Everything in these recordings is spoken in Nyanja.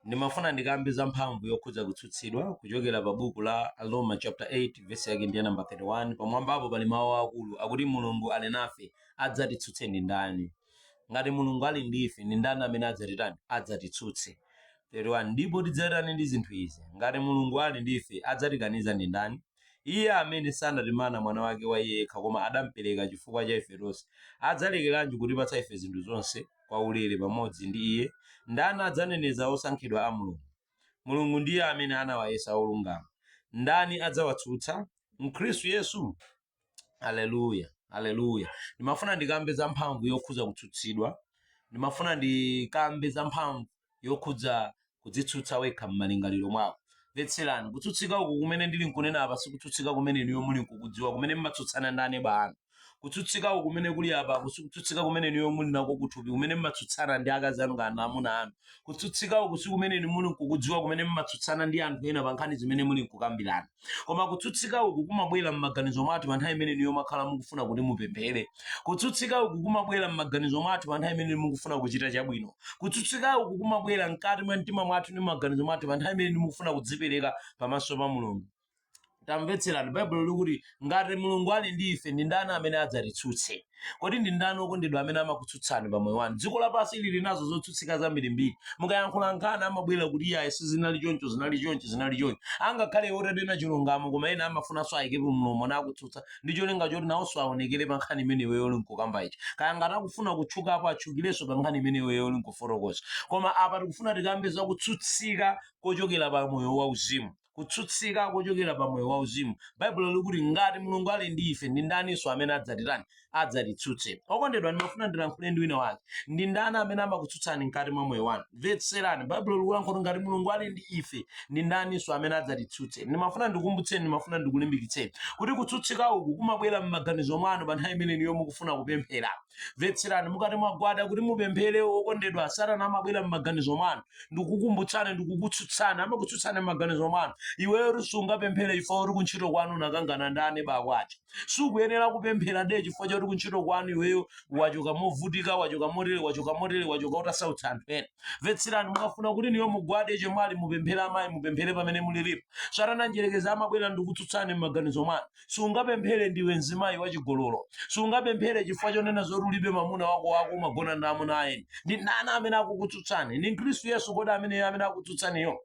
ndimafuna ndikambe za mphamvu yokhudza kutsutsidwa kuchokera pa buku la aroma chapter 8 vesi yake ndiye namba 31 pamwambapo pali mawu akulu akuti mulungu ali nafe adzatitsutse ndi ndani ngati mulungu ali ndi ife ndi ndani amene adzatitani adzatitsutse 31 ndipo tidzatani ndi zinthu izi ngati mulungu ali ndi ife adzatikaniza ndi ndani Iye amene sanatimana Mwana wake wa Iye yekha koma adampereka chifukwa cha ife tonse, adzalekeranji kutipatsa ife zinthu zonse kwaulere pamodzi ndi Iye? Ndani adzaneneza osankhidwa a Mulungu? Mulungu ndiye amene anawayesa olungama. Ndani adzawatsutsa? Mkhristu Yesu? Haleluya, Haleluya! Ndimafuna ndikambe za mphamvu yokhudza kutsutsidwa. Ndimafuna ndikambe za mphamvu. yokhudza kudzitsutsa wekha m'malingaliro mwako. Mvetserani, kutsutsika uku kumene ndili nkunena apa sikutsutsika kumene inuyo muli nkukudziwa kumene mmatsutsana ndi aneba anu. Kutsutsika uku kumene kuli apaku sikutsutsika kumene inuyo muli nako kuthupi kumene mmatsutsana ndi akazi anu kana amuna anu. Kutsutsika uku sikumene inu muli nkukudziwa kumene mmatsutsana ndi anthu ena pa nkhani zimene muli nkukambirana. koma kutsutsika uku kumabwera m'maganizo mwathu pa nthawi imene inuyo mumakhala mukufuna kuti mupemphere kutsutsika uku kumabwera m'maganizo mwathu pa nthawi imene mukufuna kuchita chabwino kutsutsika uku kumabwera mkati mwa mtima mwathu ndi m'maganizo mwathu pa nthawi imene mukufuna kudzipereka pamaso pa mulungu tamvetserani baibulo likuti ngati mulungu ali ndi ife ndi ndani amene adzatitsutse Kodi ndi ndani okondedwa amene amakutsutsani pa moyo wanu? Dziko lapansi ili lili nazo zotsutsika zambirimbiri. Mukayankhula nkhani amabwera kuti iyayi sizinali choncho, zinali choncho, zinali choncho. Angakhale iwo utanena chilungamo koma ena amafunanso ayikepo mlomo nakutsutsa ndi cholinga choti nawonso aonekere pa nkhani imene iweyo uli nkukamba ija. Kaya ngati akufuna kutchukapo atchukirenso pa nkhani imene iweyo uli nkufotokoza. Koma apa tikufuna tikambe za kutsutsika kochokera pa moyo wauzimu. kutsutsika kochokera pa moyo wauzimu. Baibulo likuti ngati Mulungu ali ndi ife, ndi ndaninso amene adzatitani? Adzatitsutse. Okondedwa, ndimafuna ndilankhule ndi wina wake. Ndi ndani amene amakutsutsani mkati mwa moyo wanu? Mvetserani, Baibulo likulankhula kuti ngati Mulungu ali ndi ife, ndi ndaninso amene adzatitsutse? Ndimafuna ndikumbutseni, ndimafuna ndikulimbikitseni kuti kutsutsika uku kumabwera m'maganizo mwanu pa nthawi imene inuyo mukufuna kupemphera. Mvetserani, mukati mwagwada kuti mupemphere, okondedwa, Satana amabwera m'maganizo mwanu ndikukumbutsani ndikukutsutsani amakutsutsani m'maganizo mwanu iweyo sungapemphere chifukwa kuti kuntchito kwanu unakangana ndi aneba ako sukuyenera kupemphera de chifukwa chakuti kuntchito kwanu iweyo wachoka movutika wachoka motere wachoka motere wachoka utasautsa anthu ena mvetserani mukafuna kuti inuyo mugwade chemwali mupemphere amayi mupemphere pamene muliripo satana mdyerekezi amabwera ndikukutsutsani m'maganizo mwanu Sungapemphere ndiwe mzimayi wachigololo. Sungapemphere chifukwa chonena zoti ulibe mamuna wako wako umagona ndi amuna a eni. Ndi ndani amene akukutsutsani? Ndi Khristu Yesu kodi ameneyo amene akutsutsaniyo?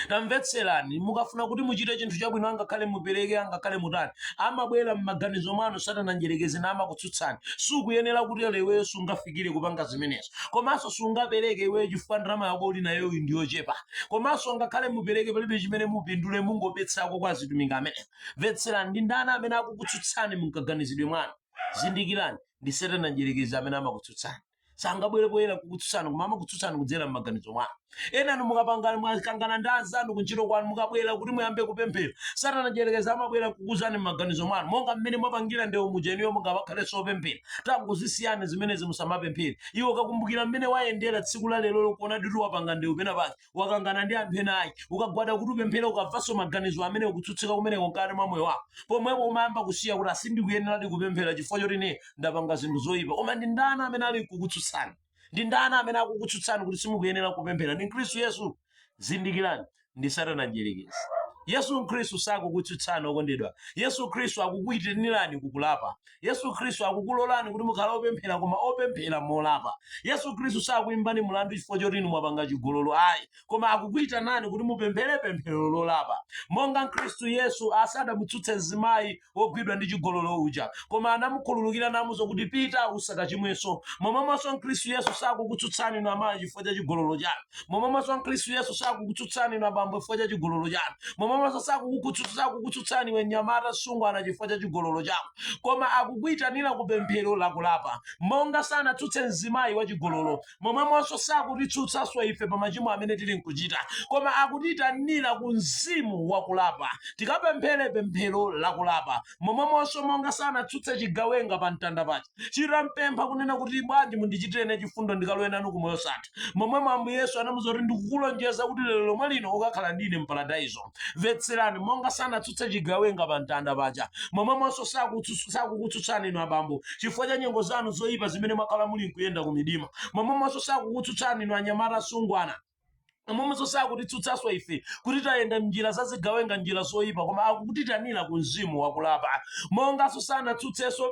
tamvetserani mukafuna kuti muchite chinthu chabwino angakhale mupereke angakhale mutani amabwera m'maganizo mwanu satana mdyerekezi namakutsutsani sukuyenera kutero iweyo sungafikire kupanga zimenezo komanso sungapereke iweyo chifukwa ndalama yako uli nayo uyu ndi yochepa komanso ngakhale mupereke palibe chimene mupindule mungobetserako kwa azitumiki amene mvetserani ndi ndani amene akukutsutsani munkaganizidwe mwanu zindikirani ndi satana mdyerekezi amene amakutsutsani sangabwere poyera kukutsutsani koma amakutsutsani kudzera m'maganizo mwanu enanu mukapangana mwakangana ndi anzanu kuntchito kwanu mukabwera kuti muyambe kupemphera satana mdyerekezi amabwera kukuuzani m'maganizo mwanu monga mmene mwapangira ndewu mujeniyo mungakhalenso opemphera tangozisiyani zimenezi musamapemphere iwe ukakumbukira mmene wayendera tsiku la lero lokuona kuti wapanga ndewu pena pake wakangana ndi anthu ena ake ukagwada kuti upemphere ukamvanso maganizo amene ukutsutsika kumeneko mkati mwa moyo wako pomwepo umayamba kusiya kuti a sindikuyeneradi kupemphera chifukwa choti ine ndapanga zinthu zoyipa koma ndi ndani amene ali kukutsutsani ndi ndani amene akukutsutsani kuti simukuyenera kupemphera ndi khristu yesu zindikirani ndi satana mdyerekezi yesu khristu sakukutsutsani okondedwa yesu khristu akukuitanirani kukulapa yesu khristu akukulolani kuti mukhale opemphera koma opemphera molapa yesu khristu sakuimbani mulandu chifukwa choti inu mwapanga chigololo ayi koma akukuitanani kuti mupemphere pemphero lolapa monga khristu yesu sadamutsutse mzimayi wogwidwa ndi chigololo uja, koma anamukhululukira namuuza kuti pita usakachimwenso. Momwemonso Khristu Yesu sakukutsutsani inu amayi chifukwa cha chigololo chanu. Momwemonso Khristu Yesu sakukutsutsani inu abambo chifukwa cha chigololo chanu. Momwemonso sakukukutsutsa sakukutsutsani iwe mnyamata msungwana chifukwa cha chigololo chako. Koma akukuitanira ku pemphero lakulapa. Monga sanatsutse mzimayi wa chigololo, momwemonso sakutitsutsanso ife pa machimo amene tili nkuchita koma akutiyitanira ku mzimu wa kulapa tikapemphere pemphero la kulapa momwemonso monga sanatsutse chigawenga pa mtanda paja chitampempha kunena kuti bwanji mundichitire ine chifundo ndikalowe nanu ku moyo wosatha momwemo ambuye yesu anamuuza kuti ndikukulonjeza kuti lero lomwe lino ukakhala ndine mparadaizo mvetserani monga sanatsutse chigawenga pa mtanda paja momwemonso sakutsutsu- sakukutsutsani inu abambo chifukwa cha nyengo zanu zoyipa zimene mwakhala muli nkuyenda ku midima momwemonso sakukutsutsani inu anyamata asungwana momwemonso sakutitsutsanso ife kuti tayenda mnjira za zigawenga njira zoyipa koma akutiitanira ku mzimu wakulapa monganso sanatsutsenso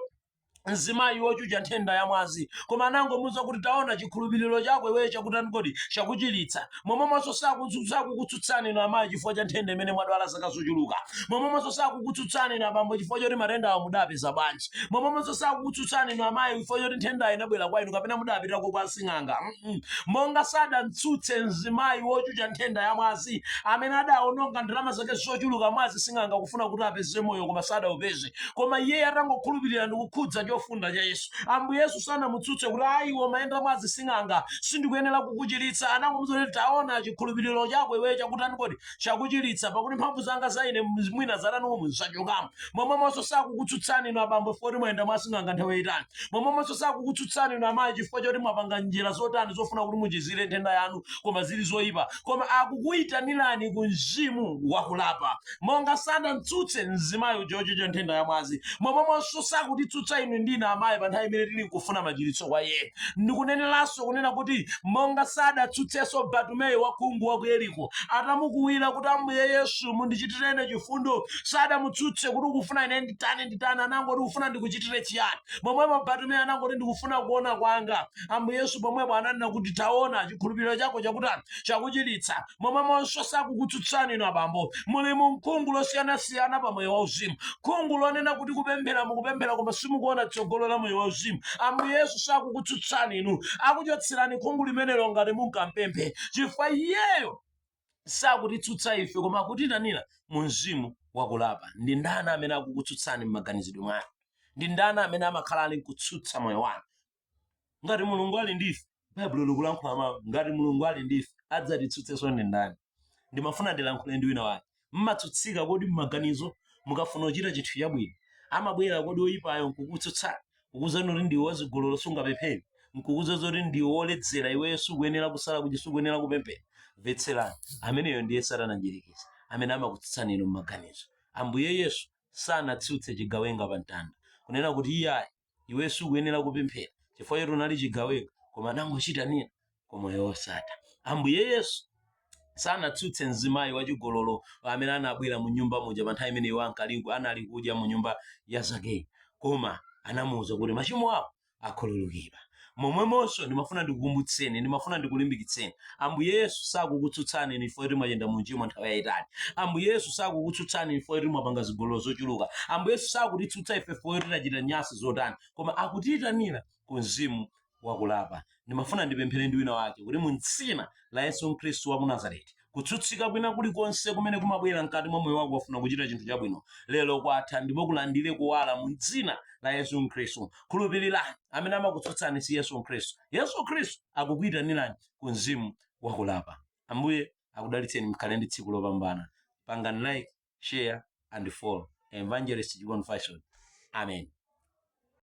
mzimayi wochucha nthenda ya mwazi koma anangomuuza kuti taona chikhulupiriro chako iweyo chakutani kodi chakuchiritsa momwemonso sakutsutsa- sakukutsutsani inu amayi chifukwa cha nthenda imene mwadwala zaka zochuluka momwemonso sakukutsutsani inu abambo chifukwa choti matendawo mudapeza bwanji momwemonso sakukutsutsani inu amayi chifukwa choti nthendayo inabwera kwa inu kapena mudapitako kwa sing'anga Mm-mm. monga sadamtsutse mzimayi wochucha nthenda ya mwazi amene adaononga ndalama zake zochuluka mwa asing'anga kufuna kuti apeze moyo koma sadaupeze koma iye atangokhulupirira ndi kukhudza chofunda cha yesu ambuye yesu sanamutsutse kuti ayi iwe umayenda mwa asing'anga sindikuyenera kukuchiritsa anangomuuza kuti taona chikhulupiriro chako iweyo chakutani kodi chakuchiritsa pakuti mphamvu zanga za ine mwina zatani umu zachokamo momwemonso sakukutsutsani inu abambo chifukwa kuti mwayenda mwa asing'anga nthawi yayitali momwemonso sakukutsutsani inu amayi chifukwa choti mwapanga njira zotani zofuna kuti muchizire nthenda yanu koma zili zoyipa koma akukuyitanirani ku mzimu wakulapa monga sadamtsutse mzimayi uja wochucha nthenda ya mwazi momwemonso sakutitsutsa inu ndine amayi pa nthawi imene tili nkufuna machiritso kwa iye ndikuneneranso kunena kuti monga sadatsutsenso batumeyo wakhungu wa ku yeriko atamukuwira kuti ambuye yesu mundichitireni chifundo sadamutsutse kuti ukufuna ine nditani nditani anangoti ufuna ndikuchitire chiyani pomwepo batumeyo anangoti ndikufuna kuona kwanga ambuye yesu pomwepo ananena kuti taona chikhulupiriro chako chakutani chakuchiritsa momwemonso sakukutsutsani inu abambo muli mu khungu losiyanasiyana pa moyo wauzimu khungu lonena kuti kupemphera mukupemphera koma simukuona tsogolo la moyo wauzimu ambuye yesu sakukutsutsani inu akuchotserani khungu limenelo ngati munkampemphe chifukwa iyeyo sakutitsutsa ife koma akutiitanira mu mzimu wakulapa ndi ndani amene akukutsutsani m'maganizidwe mwanu ndi ndani amene amakhala ali nkutsutsa moyo wanu ngati mulungu ali ndife baibulo likulankhula mawu ngati mulungu ali ndife adzatitsutsenso ndi ndani ndimafuna ndilankhule ndi wina wake mmatsutsika kodi mmaganizo mukafuna kuchita chinthu chabwino amabwera kodi oyipayo nkukutsutsani kukuuzani kuti ndiwe wazigololo sungapemphere nkukuuza zoti ndiwe woledzera iweyo sukuyenera kusala kuti sukuyenera kupemphera mvetserani ameneyo ndiye satana mdyerekezi amene amakutsutsani inu mmaganizo ambuye yesu sanatsutse chigawenga pa mtanda kunena kuti iye ayi iwe sukuyenera kupemphera chifukwa choti unali chigawenga koma anangomuitanira ku moyo wosatha ambuye yesu sanatsutse mzimayi wachigololo amene anabwera mu nyumba muja pa nthawi imene iwo ankaliku anali kudya mu nyumba ya zakeyu koma anamuwuza kuti machimo ako akhululukidwa momwemonso ndimafuna ndikukumbutseni ndimafuna ndikulimbikitseni ambuye yesu sakukutsutsani inu chifukwa kuti mwayenda mu uchimo nthawi yayitali ambuye yesu sakukutsutsani inu chifukwa kuti mwapanga zigololo zochuluka ambuye yesu sakutitsutsa ife chifukwa kuti tachita nyansi zotani koma akutiyitanira ku mzimu wakulapa ndimafuna ndipemphere ndi wina wake kuti mu dzina la yesu khristu wa ku nazareti Kutsutsika kwina kulikonse kumene kumabwera mkati mwa moyo wako ukafuna kuchita chinthu chabwino, lero kwatha ndipo kulandire kuwala mu dzina la Yesu Khristu. Khulupirirani, amene amakutsutsani si Yesu Khristu. Yesu Khristu akukuitanirani ku mzimu wakulapa. Ambuye akudalitseni, mkhale ndi tsiku lopambana. Pangani like, share and follow. Evangelist Chikondi Fashion. Amen.